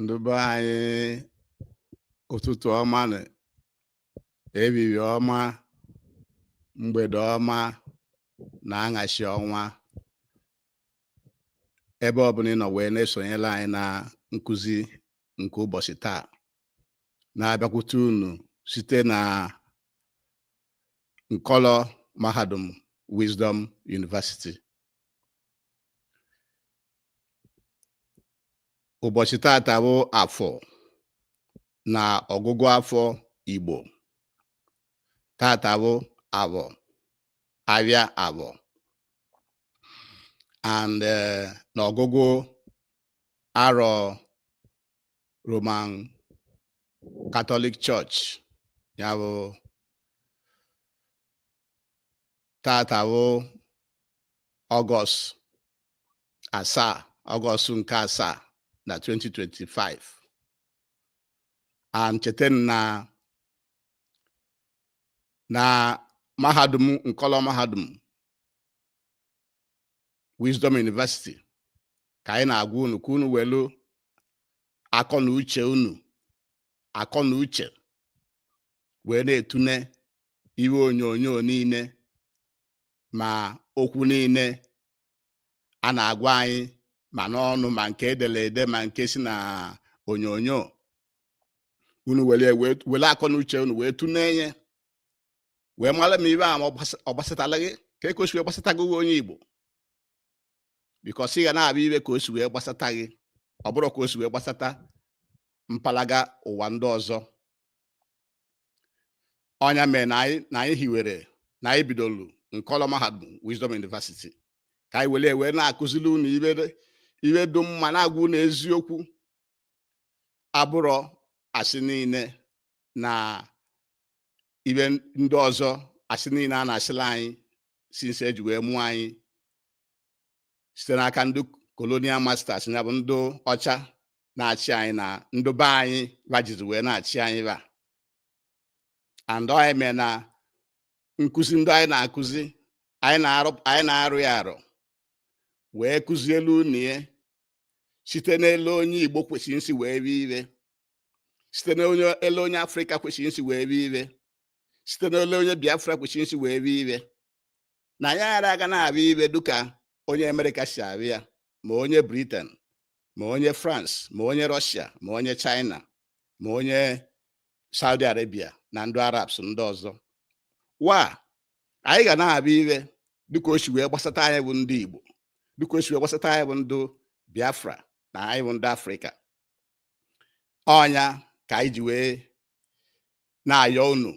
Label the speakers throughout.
Speaker 1: ndị be anyị ụtụtụ ọma na ehihie ọma mgbede ọma na anyasị ọma ebe ọbụla ị nọ wee na-esonyelu anyị na nkụzi nke ụbọchị taa na-abịakwute unu site na nkọlọ mahadum Wisdom University ụbọchị tata bụ afọ na ọgụgụ afọ Igbo tata bụ avọ avịa avọ and eh, na ọgụgụ arọ Roman Catholic Church ya bụ tata bụ ọgọst asaa ọgọst nke asaa na 2025 and chetanụ na mahadum nkọlọ mahadum Wisdom University ka anyị na-agwa unu ka unu welu akọ na uche unu akọ na uche wee na-etune ive onyonyo niile ma okwu niile a na-agwa anyị ma n'ọnụ ma nke edere ede ma nke si na onyonyo unu were akọ na uche unu wee tune ya wee mara ma ive a ma ọ gbasatala gị kee ka o si wee gbasata gị bụ onye Igbo because ị ga na-avụ ive ka o si wee gbasata gị ọ bụrọ ka o si wee gbasata mpalaga ụwa ndị ọzọ ọ nya mere na anyị na anyị hiwere na anyị bidolu nkọlọ mahadum Wisdom University ka anyị were wee na-akụziri unu ive dị mma na-agwa unu eziokwu abụrọ asị niile na ive ndị ọzọ asị niile a na-asịlị anyị since eji wee mụọ anyị site n'aka ndị colonial masters ya bụ ndị ọcha na-achị anyị na ndị be anyị bajizi wee na-achị anyị ba and ọ nya mee na nkụzi ndị anyị na-akụzi anyị na-arụ ya arụ wee kụzielu unu ya site n'ele onye Igbo kwesịrị nsi wee vụ ive site n'ele onye Afrịka kwesịrị nsi wee vụ ive site n'ele onye Biafra kwesịrị nsi wee vụ ive na anyị ara aga na-avụ ive dịka onye Amerịka si avụ ya ma onye Britain ma onye France ma onye Russia ma onye China ma onye Saudi Arabia na ndị Arabs ndị ọzọ wa anyị ga na-abịa iwe dịka o si wee gbasata anyị bụ ndị Igbo dịka o si wee gbasata anyị bụ ndị Biafra na anyị bụ ndị Afrịka ọ nya ka anyị ji wee na-ayọ unu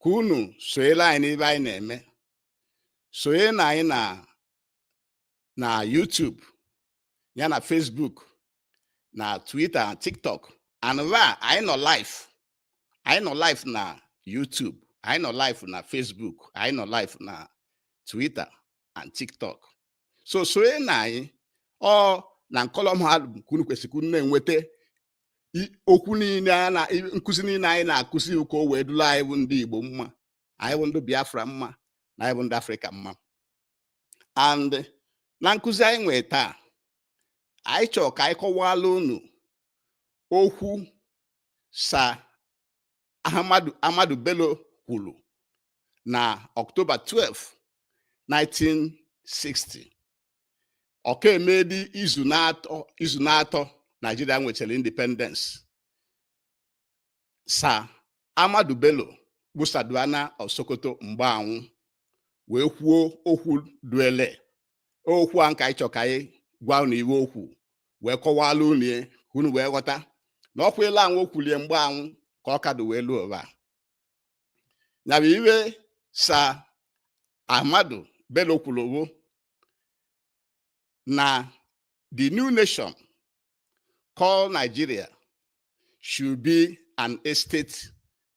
Speaker 1: ka unu sonyela anyị n'iwe anyị na-eme sonye na anyị na na YouTube ya na Facebook na Twitter na TikTok and va anyị nọ live anyị nọ live na YouTube anyị nọ live na Facebook anyị nọ live na Twitter and TikTok so sonye na anyị ọ na nkọlọm ha ka unu kwesịrị na-enweta okwu niile a na nkụzi niile anyị na-akụzi ịhụ ka o wee dụla anyị bụ ndị Igbo mma anyị bụ ndị Biafra mma na anyị bụ ndị Afrịka mma and na nkụzi anyị nwee taa anyị chọrọ ka anyị kọwala unu okwu Sir Ahmadu Bello kwuru na Ọktoba 12 1960 ọ ka emedi izu na-atọ Naijiria nwechara independence Sir Ahmadu Bello bụ Sardauna of Sokoto mgbe awụ wee kwuo okwu dụ ele okwu a nke anyị chọ ka anyị gwa unu iwe okwu wee kọwala unu ya ka unu wee ghọta na ọkwa ele awụ o kwulie mgbe awụ ka ọ ka dụ wee luo ụwa ya bụ iwe Sir Ahmadu Bello kwuru bụ na the new nation called Nigeria should be an estate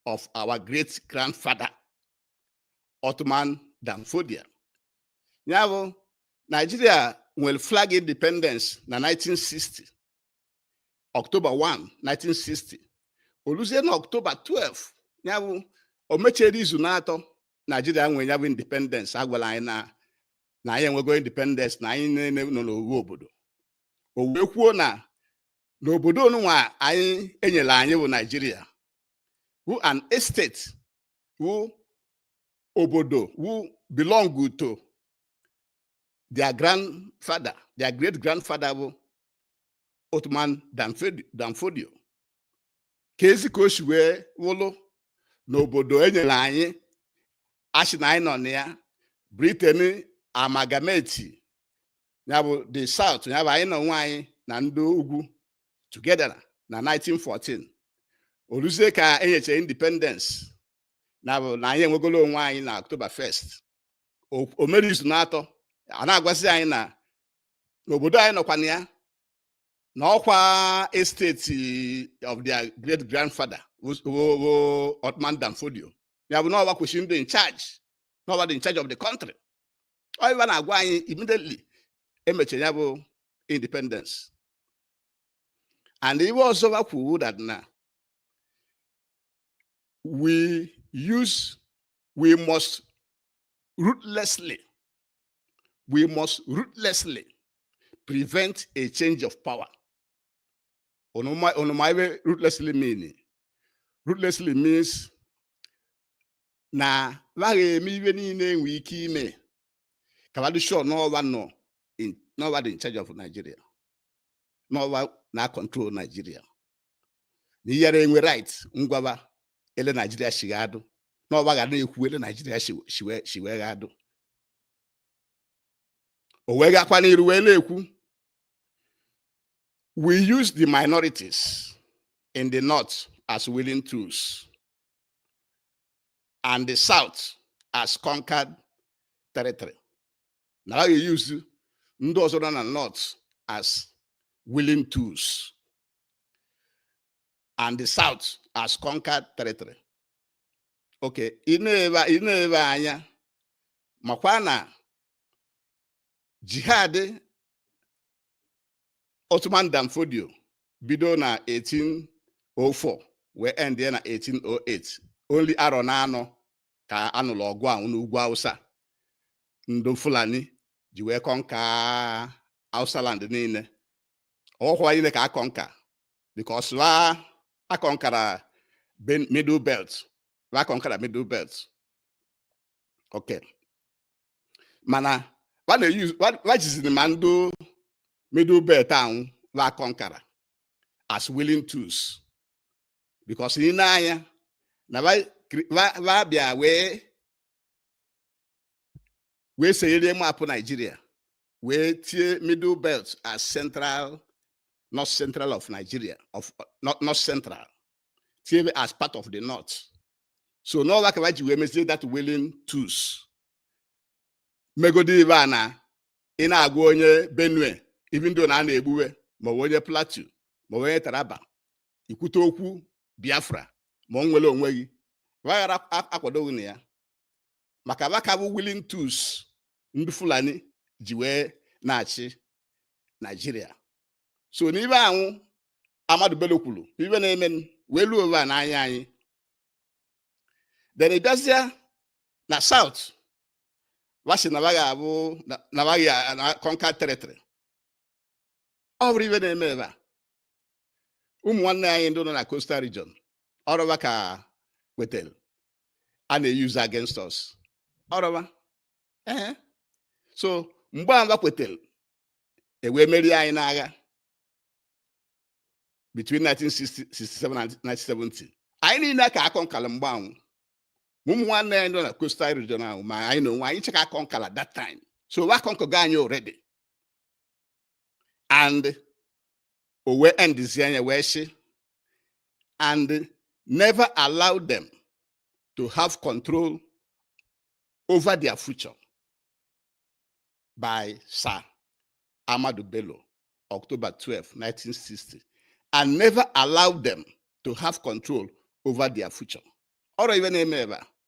Speaker 1: of our great grandfather Othman Danfodio. Ya bụ Nigeria nwere flag independence na 1960 October 1 1960 o luzie na October 12 ya bụ o mechere izu na-atọ Nigeria nwere ya bụ independence a gwala anyị na na anyị enwego independence na anyị niile nọ n'owu obodo o wee kwuo na n'obodo onunwa anyị enyela anyị bụ Naijiria wu an estate wu obodo wu belong to their grandfather their great grandfather bụ Othman Danfodio keezi ka o si wee wụlụ n'obodo enyere anyị a sị na anyị nọ na ya Britain amalgamate ya bụ the South ya bụ anyị na onwe anyị na ndị ugwu together na 1914 o luzie ka enyechara independence ya bụ na anyị enwegolo onwe anyị na October 1st o mere izu na-atọ a na-agwazi anyị na n'obodo anyị nọkwa na ya na ọkwa estate of their great grandfather Uthman Dan Fodio ya bụ na ọwa kwesịrị ịdị in charge na ọwa dị in charge of the country ọ ibe a na-agwa anyị immediately e mechara ya bụ independence and ibe ọzọ o kwuru that na we use, we must ruthlessly, we must ruthlessly prevent a change of power. Onomaiwe ruthlessly meaning. Ruthlessly means na laghị eme iwe niile enwe ike ime ka ba dị sure n'ọwa nọ n'ọwa dị in charge of Nigeria n'ọwa na control Nigeria na ị yara enwe right ịgwa ba ele Nigeria shi ga-adụ n'ọwa ga na-ekwu ele Nigeria shi wee ga-adụ o wee gakwa n'iru wee na-ekwu we use the minorities in the north as willing tools and the south as conquered territory na ha ga-use ndị ọzọ nọ na north as willing tools and the south as conquered territory okay i neba anya makwa na jihad Uthman Dan Fodio bido na 1804 wee end ya na 1808 only arọ na anọ ka a nụlụ ọgụ ahụ n'ugwu Hausa ndị Fulani ji wee conquer Hausa land niile ọhọkwa niile ka a conquer because wa akọnkara middle belt wa akọnkara middle belt okay mana wa jiziri ma ndị middle belt ahụ wa akọnkara as willing tools because i nee anya na va bịa wee wee sere map nigeria wee tie middle belt as central north central of nigeria north central tie as part of the north so n'ọwa ka va ji wee mezie that willing tools megodi ibe a na ị na-agwa onye benue even though na a na-egbu we maọbụ onye plateau maọbụ onye taraba i kwute okwu biafra maọbụ inwere onwe gị wa aghara akwado gị na ya maka ba ka bụ willing tools ndị fulani ji wee na-achị nigeria so n'ibe ahụ ahmadu bello kwuru ibe na-eme wee luo ebe a n'anya anyị then ị bịazịa na south va sị na baghị abụ na baghị conquer territory ọ bụrọ ive na-eme ebe a ụmụ nwanne anyị ndị nọ na coastal region ọ rọ va ka wetara a na-eyuzu against us ọ rọ va ee so mgbe a gbakwetara e wee merie anyị n'agha between 1967 and 1970 anyị niile ka a conquer-la mgbe anwụ ụmụ nwanne anyị nọ na coastal region ahụ ma anyị na onwe anyị cha ka a conquer-la that time so a conquer-go anyị already and o wee endizie nya wee sị and never allow them to have control over their future by Sir Ahmadu Bello, October 12, 1960, and never allow them to have control over their future. Ọ rọ ive na-eme ebe a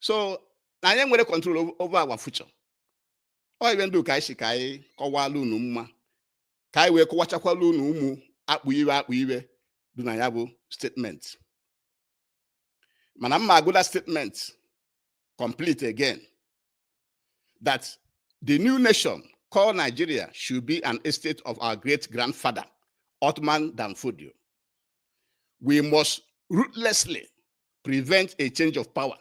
Speaker 1: so na anyị nwere control over our future ọ ive ndụ ka anyị sị ka anyị kọwala unu mma ka anyị wee kọwachakwala unu ụmụ akpụ ive akpụ ive dị na ya bụ statement mana m ma agụ the statement complete again that the new nation called Nigeria should be an estate of our great grandfather, Othman Dan Fodio. We must ruthlessly prevent a change of power.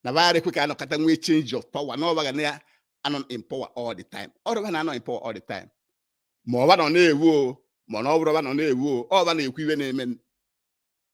Speaker 1: na va yara ekwe ka a nọkata nwee change of power na ọ va ga na-anọ in power all the time ọ rọ va na-anọ in power all the time ma ọ va nọ na-ewu o ma na ọ bụrọ va nọ na-ewu o ọ va na-ekwu ive na-eme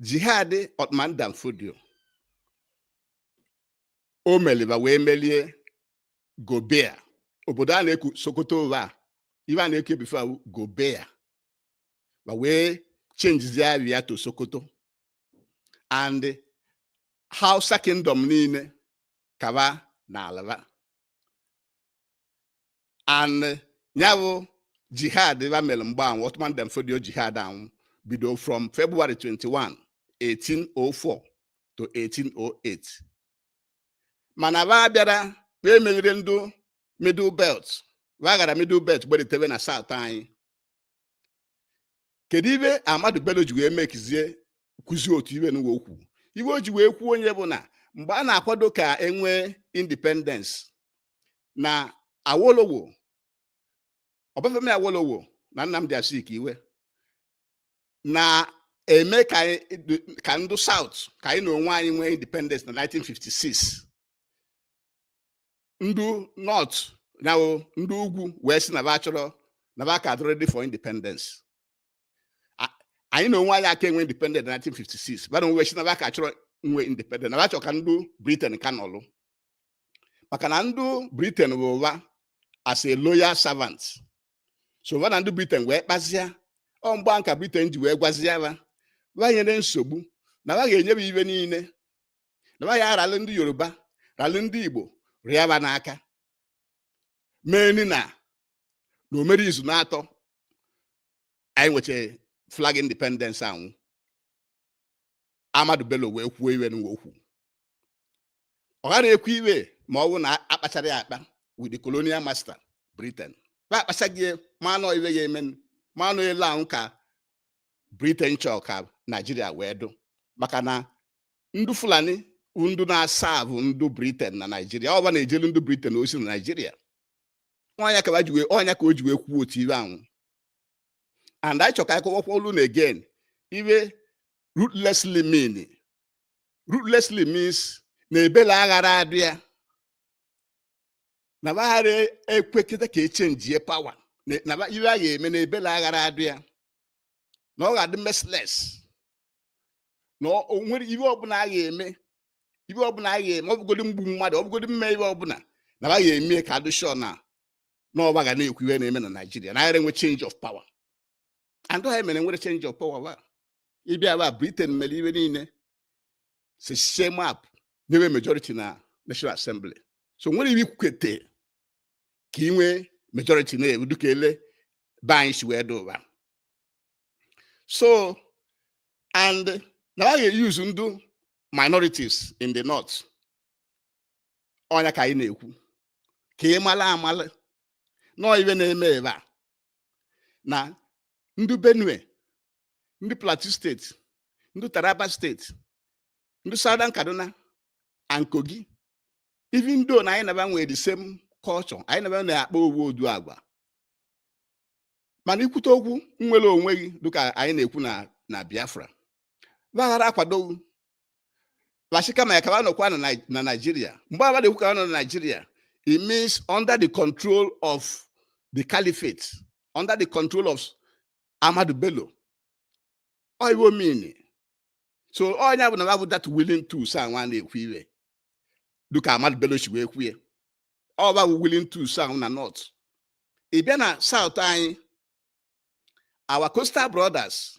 Speaker 1: jihad Othman Dan Fodio o melụ va wee melie Gobir obodo a na-eku Sokoto ụwa ive a na-eku e before wụ Gobir va wee chenjizie ava ya to Sokoto and Hausa kingdom niile ka va naala va and ya bụ jihad va mere mgbe anwụ Othman Dan Fodio jihad anwụ bido from February 21 1804 to 1808 mana va bịara va emerirọ ndụ middle belt va gara middle belt gbelitere na south anyị kedu ive Ahmadu Bello ji wee mekizie kwuzie otu ive nụwa okwu ive o ji wee kwuo nye bụ na mgbe a na-akwado ka enwee independence na Awolowo Ọbafemi Awolowo na Nnamdi Azikiwe na-eme ka ndụ South ka anyị na onwe anyị nwee independence na 1956 ndị north na ndị ugwu wee si na ba chọrọ na ba ka adị ready for independence anyị na onwe anyị aka enwe independent na 1956 ba na onwe si na ba ka chọrọ nwe independent na ba chọrọ ka ndị britain ka nọlụ maka na ndị britain bụ wa as a loyal servant so ba na ndị britain wee kpazia ọ mgbe ahụ ka britain ji wee gwazia ba ba nyere nsogbu na ba ga-enye wa ibe niile na ba ya aralụ ndị yoruba ralụ ndị igbo rịa ba n'aka mee ni na na o mere izu n'atọ anyị nweche flag independence anwụ ahmadu bello wee kwuo iwe nụwa o kwu ọ ghara ekwu iwe ma ọ bụ na a kpachara ya akpa with the colonial master britain ba akpachago ya ma na ọ iwe ya eme ma na ọ ele ahụ ka britain chọọ ka naijiria wee dụ maka na ndị fulani ndụ na-aserve ndụ britain na naijiria ọ ba na-ejelu ndụ britain ozi na naijiria ọ nya ka ọ nya ka o ji wee kwuo otu ibe anwụ and anyị chọ ka a kọwakwalụ unu again iwe ruthlessly mean ruthlessly means na ebele aghara adị ya na ba aghara ekwekịta ka e changie power na iwe a ga-eme na ebele aghara adị ya na ọ ga-adị merciless na o nwere ibe ọbụla a ga-eme ibe ọbụla a ga-eme ọ bụgodi mgbu mmadụ ọ bụgodi mme ibe ọbụla na a ga-eme ka a dụ sure na ọ ba ga na-ekwu ihe na-eme na Naịjirịa na aghara enwe change of power and ha mere nwere change of power wa ị bịa ba Britain mere ibe niile sechaa map nye wa majority na National Assembly so nwere iwe i kwukete ka ị nwee majority na-ewu dịka ele be anyị si wee dị ugbua so and na a ga-euse ndụ minorities in the north ọ nya ka anyị na-ekwu ka ị mala amala na ọ iwe na-eme ebe a na ndị benue ndị plateau state ndị taraba state ndị southern kaduna and kogi even though na anyị na ba nwere the same culture anyị na ba na-akpa owu ụdị agwa mana i kwute okwu nnwere onwe gị dịka anyị na-ekwu na na biafra va aghara akwado va shi kama ya ka va nọkwa na Nigeria mgbe a na-ekwu ka va nọ na Nigeria it means under the control of the caliphate under the control of Ahmadu Bello ọ iwe ọ mean so ọ ya bụ na va bụ that willing tools anwụ a na-ekwu iwe dịka Ahmadu Bello si wee kwue ọ va bụ willing tools na north ị bịa na south anyị our coastal brothers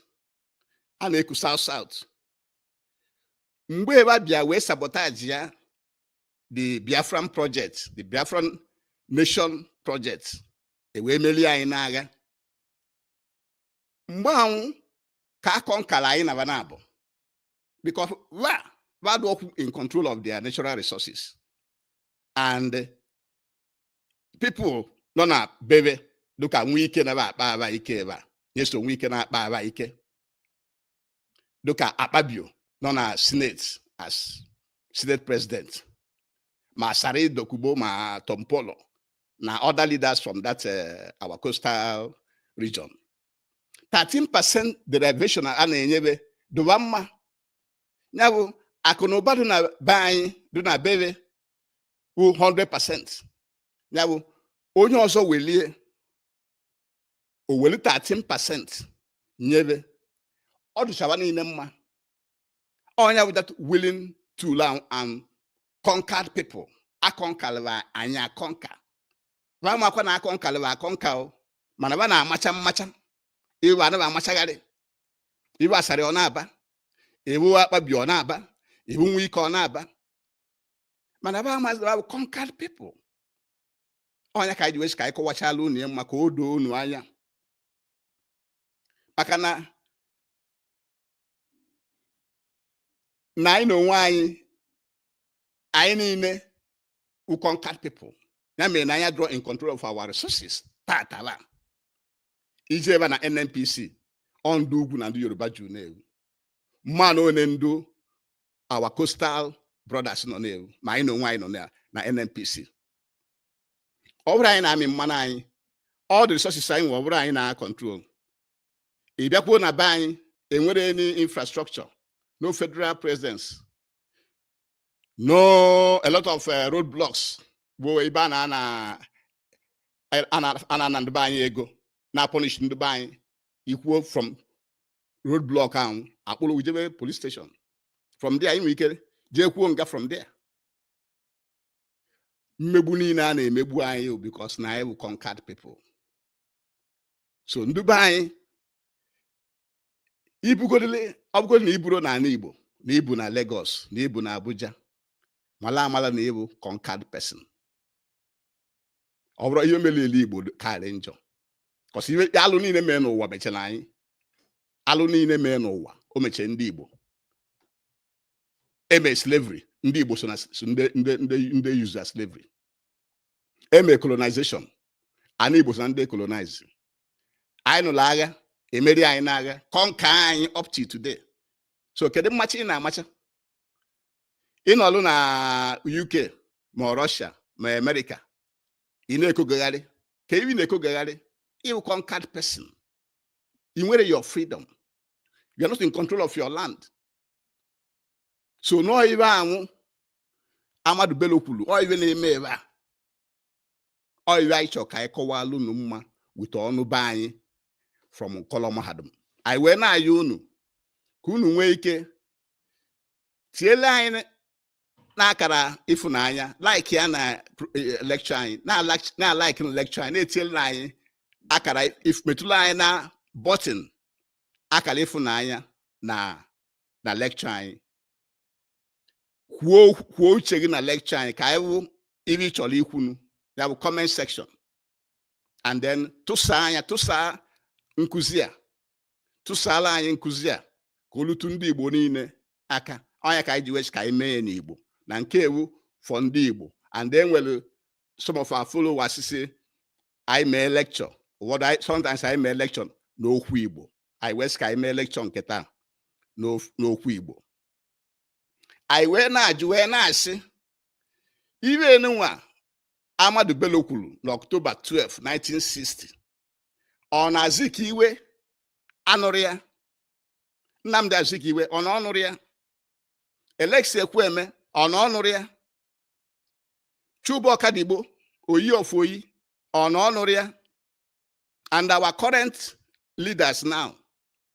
Speaker 1: a na-eku south south mgbe ba bịa wee sabotage ya the biafran project the biafran nation project e wee melie anyị n'agha mgbe ahụ ka a conquerlụ anyị na ba naabọ because ba adịrọkwa in control of their natural resources and people nọ na be be dịka Wike na-akpa aba ike ebe a Nyesom Wike na-akpa aba ike dịka Akpabio nọ na senate as senate president ma Asari Dokubo ma Tompolo na other leaders from that uh, our coastal region 13 percent derivation a na-enye be dụ ba mma ya bụ akụ na ụba dị na be anyị dị na be be wụ 100% ya bụ onye ọzọ welie o weli 13% nye be ọ dụcha ba niile mma ọ nya bụ that willing tool and conquered people a conquerlị ba anyị a conquer ba makwa na a conquerlị ba a conquer o mana ba na-amacha mmacha ị wụ ba na-amachagharị ị wụ Asari ọ na-aba ị wụ Akpabio ọ na-aba ị wụ Wike ọ na-aba mana ba amazị ba bụ conquered people ọ nya ka anyị ji wee sị ka anyị kọwachala unu ya mma ka o doo unu anya maka na na anyị na onwe anyị anyị niile wụ conquered people ya mere na anyị adịrọ in control of our resources tatala i jee ebe a na nnpc ọ ndị ugwu na ndị yoruba juru n'ebe ahụ mana o nwe ndị our coastal brothers nọ n'ebe ahụ ma anyị na onwe anyị nọ na na NNPC ọ bụrọ anyị na-amị mmanụ anyị all the resources anyị nwe ọ bụrọ anyị na control ị bịakwuo na be anyị enwerọ any infrastructure no federal presence no a lot of uh, road blocks bụ ebe a na na a na-ana ndị be anyị ego na-apunish ndị be anyị i kwuo from road block ahụ a kpụrụ ị jebe police station from there i nwere ike jeekwuo nga from there mmegbu niile a na-emegbu anyị because na anyị bụ conquered people so ndị be anyị i bugodile ọ bụgodị na i buro n'ala Igbo na i bu na Lagos na i bu na Abuja mala amala na ị bụ conquered person ọ bụrụ ihe mere ele Igbo karị njọ cause ihe alụ niile mee n'ụwa mechara anyị alụ niile mee n'ụwa o mechie ndị Igbo e mee slavery ndị Igbo so na ndị use slavery e mee colonization ana Igbo so na ndị colonize anyị nụrụ agha emeri anyị n'agha conquer anyị up to today so kedu mmacha ị na-amacha ị nọlụ na UK ma Russia ma America ị na-ekogagharị ka ị na-ekogagharị ị wụ conquered person i nwere your freedom you are not in control of your land so na ọ ibe anwụ Ahmadu Bello kwuru ọ ibe na-eme ebe a ọ iwe anyị chọrọ ka anyị kọwalụ unu mma wute ọnụ be anyị from nkọlọ mahadum anyị wee na-ayọ unu ka unu nwee ike tiele anyị n'akara ịfụnanya like ya na eh, lecture anyị na-alaiki na lecture anyị na-etiele anyị akara metụla anyị na button akara ịfụnanya na na lecture anyị kwuo kwuo uche gị na lecture anyị ka anyị wụ ibe ị chọrọ ikwu na ya bụ comment section and then tụsaa nya tụsaa nkụzi a tụsaala anyị nkụzi a ka o lute ndị Igbo niile aka ọ nya ka anyị ji wee sị ka anyị mee ya n'Igbo na nke a wụ for ndị Igbo and then nwere some of our followers sị anyị mee lecture sometimes anyị mee lecture n'okwu Igbo anyị wee sị ka anyị mee lecture nke taa n'okwu Igbo anyị wee na-ajụ wee na-asị ibe nunwa Ahmadu Bello kwuru n'October 12 1960 ọ na Azikiwe anụrụ ya Nnamdi Azikiwe ọ na ọ nụrụ ya Alex Ekwueme ọ na ọ nụrụ ya Chuba Okadigbo Oyi of Oyi ọ na ọ nụrụ ya and our current leaders now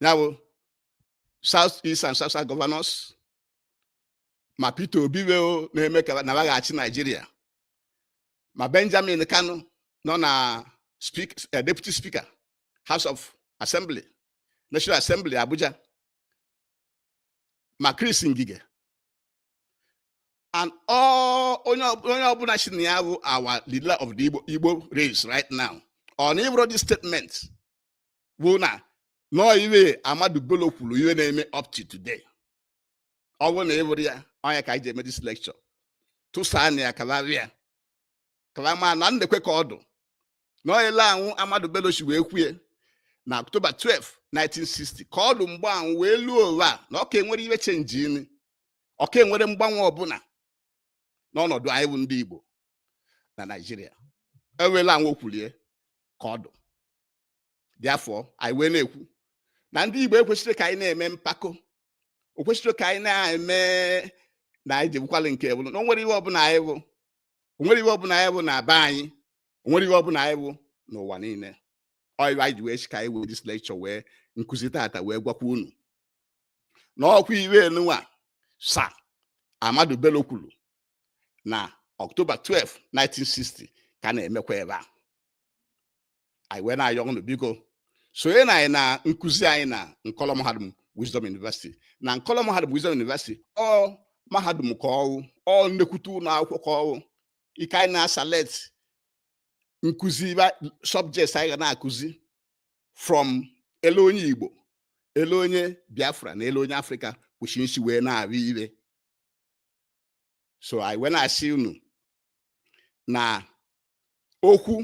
Speaker 1: ya bụ south east and south south governors ma Peter Obi wee na-eme ka na ọ ga-achị Nigeria ma Benjamin Kanu nọ na speak, uh, deputy speaker House of Assembly National Assembly Abuja ma Chris Ngige and all onye ọ- onye ọbụla sị na ya bụ our leader of the Igbo, Igbo race right now ọ na ị vụrụ this statement bụ na na ọ iwe Ahmadu Bello kwuru iwe na-eme up to today ọ bụ na ị vụrụ ya ọ nya ka anyị ji eme this lecture tụsaa nya kalarịa kalama na ndekwe ka ọ dụ na ọ yele anwụ Ahmadu Bello si wee kwue na October 12 1960 ka ọ dụ mgbe anwụ wee luo ụwa na ọ ka enwere iwe changenị ọ ka enwere mgbanwe ọbụla n'ọnọdụ anyị bụ ndị Igbo na Naịjirịa enweela anwa okwulie ka ọdụ therefore anyị wee na-ekwu na ndị Igbo ekwesịrọ ka anyị na-eme mpako o kwesịrọ ka anyị na-eme na anyị jebukwala nke bụrụ na o nwerọ ihe ọbụla anyị bụ o nwerọ ihe ọbụla anyị bụ na be anyị o nwerọ ihe ọbụla anyị bụ n'ụwa niile ọ iwe anyị ji wee sị ka anyị wee this lecture wee nkụzi tata wee gwakwa unu na ọkwa iwe enunwa Sir Ahmadu Bello kwuru na October 12 1960 ka na-emekwa ebe a anyị wee na-ayọ unu biko sonye na anyị na nkụzi anyị na nkọlọ mahadum Wisdom University na nkọlọ mahadum Wisdom University ọ mahadum ka ọ wụ ọ nnekwute ụlọ akwụkwọ ka ọ wụ ike anyị na-select nkụzi subjects anyị ga na-akụzi from ele onye Igbo ele onye Biafra na ele onye Afrịka kwụchi nsi wee na-ahụ iwe so anyị wee na-asị unu na okwu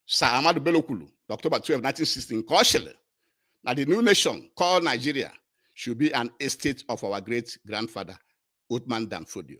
Speaker 1: Sir Ahmadu Bello kwuru October 12 1960 nke ọ sịrị na the new nation called Nigeria should be an estate of our great grandfather Uthman Dan Fodio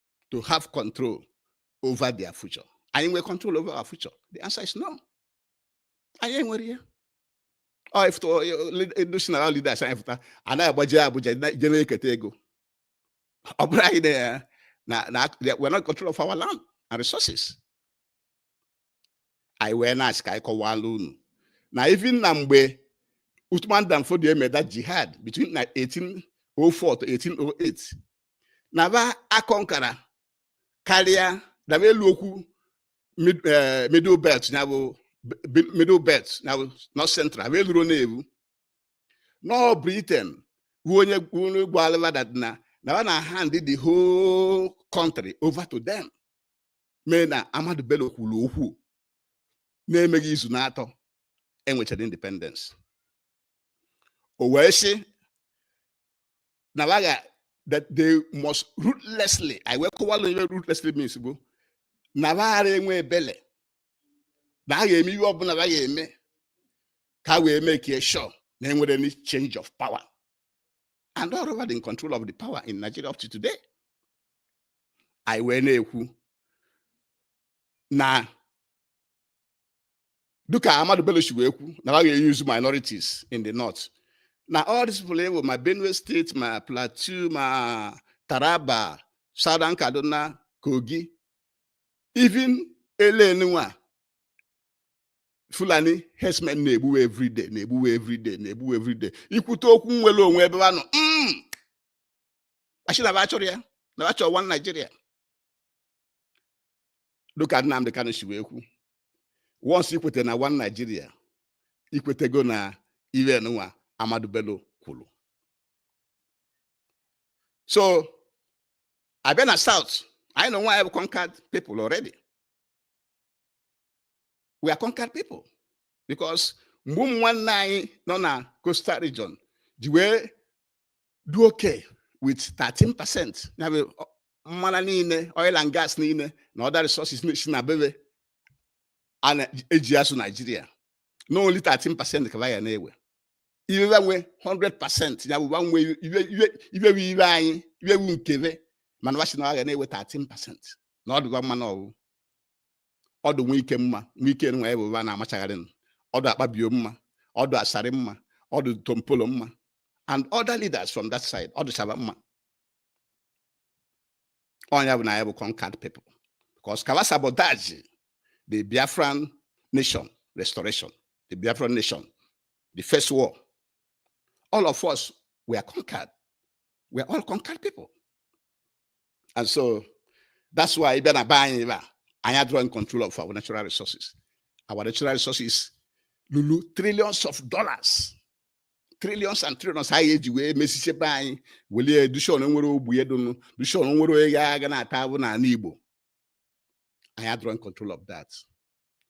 Speaker 1: to have control over their future. Anyị nwere control over our future? The answer is no. Anyị enwerọ ya. Ọ ifụta national leaders anyị fụta anaghị agbaje Abuja je na-eketa ego. Ọ bụrụ anyị na na we're not control of our land and resources. Anyị wee na-asị ka anyị kọwaala unu na even na mgbe Uthman Dan Fodio made that jihad between 1804 to 1808 na ba aconquerọ karịa na ba elu okwu eh, middle belt ya bụ middle belt ya bụ north central ba elurọ na-ebu na ọ Britain bụ onye gwalụba na na ba na hand the whole country over to them mee na Ahmadu Bello kwuru okwu na-emeghị izu na-atọ enwechara independence o wee sị na ba ga that they must ruthlessly anyị wee kọwalụ ihe ruthlessly means bụ na waghara enwe ebele na a ga-eme ihe ọbụla ba ga-eme ka wee make sure na enwerọ any change of power and ọ bụ ba dị in control of the power in Nigeria up to today. anyị wee na-ekwu na dịka Ahmadu Bello si wee kwu na ha ga-euse minorities in the north na all these people ewu ma Benue State ma Plateau ma Taraba Southern Kaduna Kogi even elenwa fulani herdsmen na-egbuwe everyday na-egbuwe everyday na-egbuwe everyday i kwute okwu nnwere onwe ebe anọ mm. a sị na achọrọ ya na achọ one Nigeria dịka Nnamdị Kanu si wee kwuo once i kweta na one Nigeria i kwetego na ife nwa Ahmadu Bello kwuru so a bịa na South anyị na onwe anyị bụ conquered people already we are conquered people because mgbe ụmụ nwanne anyị nọ na coastal region ji wee dị okay with 13 percent ya bụ mmanụ niile oil and gas niile na other resources si na be we eji azụ naijiria na only 13 percent ka wa ga na-ewe ife wa nwe 100 percent ya bụ nwe ife ife anyị ife wu nke we mana wa shị na wa ga na-ewe 13 percent na ọ dụ wa mma na ọ wụ ọ dụ Wike mma Wike nwa ya bụ ugbua na-amachagharị nụ. ọ dụ Akpabio mma ọ dụ Asari mma ọ dụ Tompolo mma and other leaders from that side ọ dụcha wa mma ọ nya bụ na ya bụ conquered people because ka wa sabotage the biafran nation restoration the biafran nation the first war all of us were conquered we are all conquered people and so that's why ị bịa na be anyị ebe a anyị adịrọ in control of our natural resources our natural resources lulu trillions of dollars trillions and trillions anyị eji wee mezisie be anyị welie dụ shị o nwerọ ogbenye dụnụ dụ shị o nwerọ onye ga na-ata ahụhụ n'anị igbo anyị adịrọ in control of that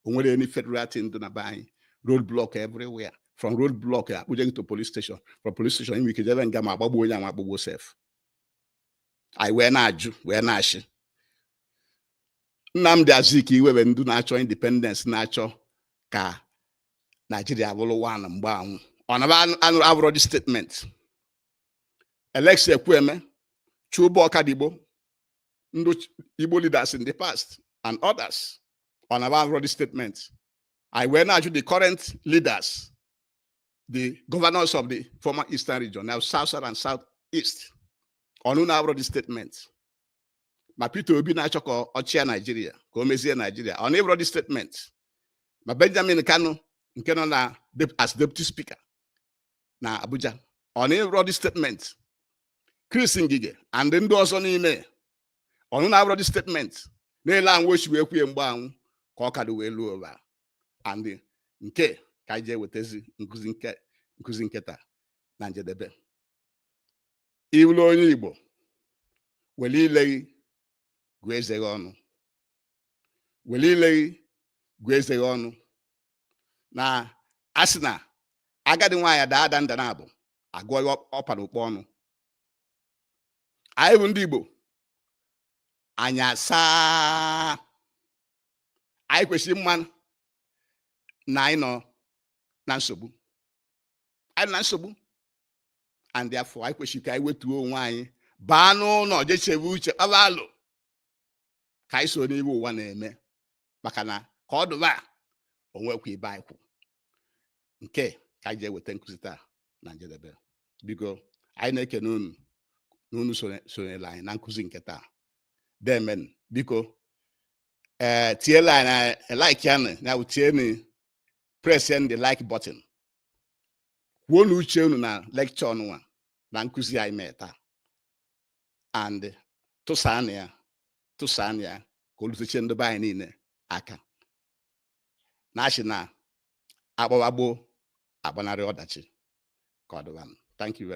Speaker 1: o nwerọ any federal thing dị na be anyị road block everywhere from road block a kpụje gị to police station from police station i nwe ike jebe nga ma agbagbuo onye ma agbagbuo sef anyị wee na-ajụ wee na-asị Nnamdi Azikiwe we ndị na-achọ independence na-achọ ka Naijiria bụrụ one mgbe anwụ ọ na wa afụrọ the statement Alex Ekwueme Chuba Ọkadigbo ndị Igbo leaders in the past and others ọ na wa afụrọ the statement anyị wee na-ajụ the current leaders the governors of the former eastern region now south south and south east ọ na ụnụ afụrọ the statement ma Peter Obi na-achọ ka ọ chịa Naijiria ka o mezie Naijiria ọ na ọ fụrọ the statement ma Benjamin Kanu nke nọ na as deputy speaker na Abuja ọ na ọ fụrọ the statement Chris Ngige and ndị ọzọ niile ọ na ụnụ afụrọ the statement na-ele anwụ o si wee kwuo ya mgbe anwụ ka ọ ka dụ wee luo ugbua and nke a ka anyị ji ewetazi nkụzi nke taa na njedebe ị wụlụ onye Igbo were ile gị gụọ eze gị ọnụ were ile gị gụọ eze gị ọnụ na a sị na agadi nwaanyị daa ada nda naabọ a gụọ ihe ọ pa n'ukpa ọnụ anyị bụ ndị Igbo anya saa anyị kwesịrị ịma na anyị nọ na nsogbu anyị nọ na nsogbu and therefore anyị kwesịrị ka anyị wetuo onwe anyị baa n'ụlọ je chebe uche kpaba alo ka anyị soro n'ihe ụwa na-eme maka na ka ọ dị ugbua o nwekwa ebe anyị kwụ nke a ka anyị ji eweta nkụzi taa na njedebe biko anyị na-ekene unu na unu sonyela anyị na nkụzi nke taa deemenụ biko ee eh, tielụ anyị nụ eh, like ya na bụ tienu pressienụ the like button kwuonụ uche unu na lecture nụnwa na nkụzi anyị mee taa and tụsaanụ ya tụsaanụ ya ka o lutechie ndị be anyị niile aka na a sị na a gbawa gboo agbanarị ọdachi ka ọ dịbanụ thank you very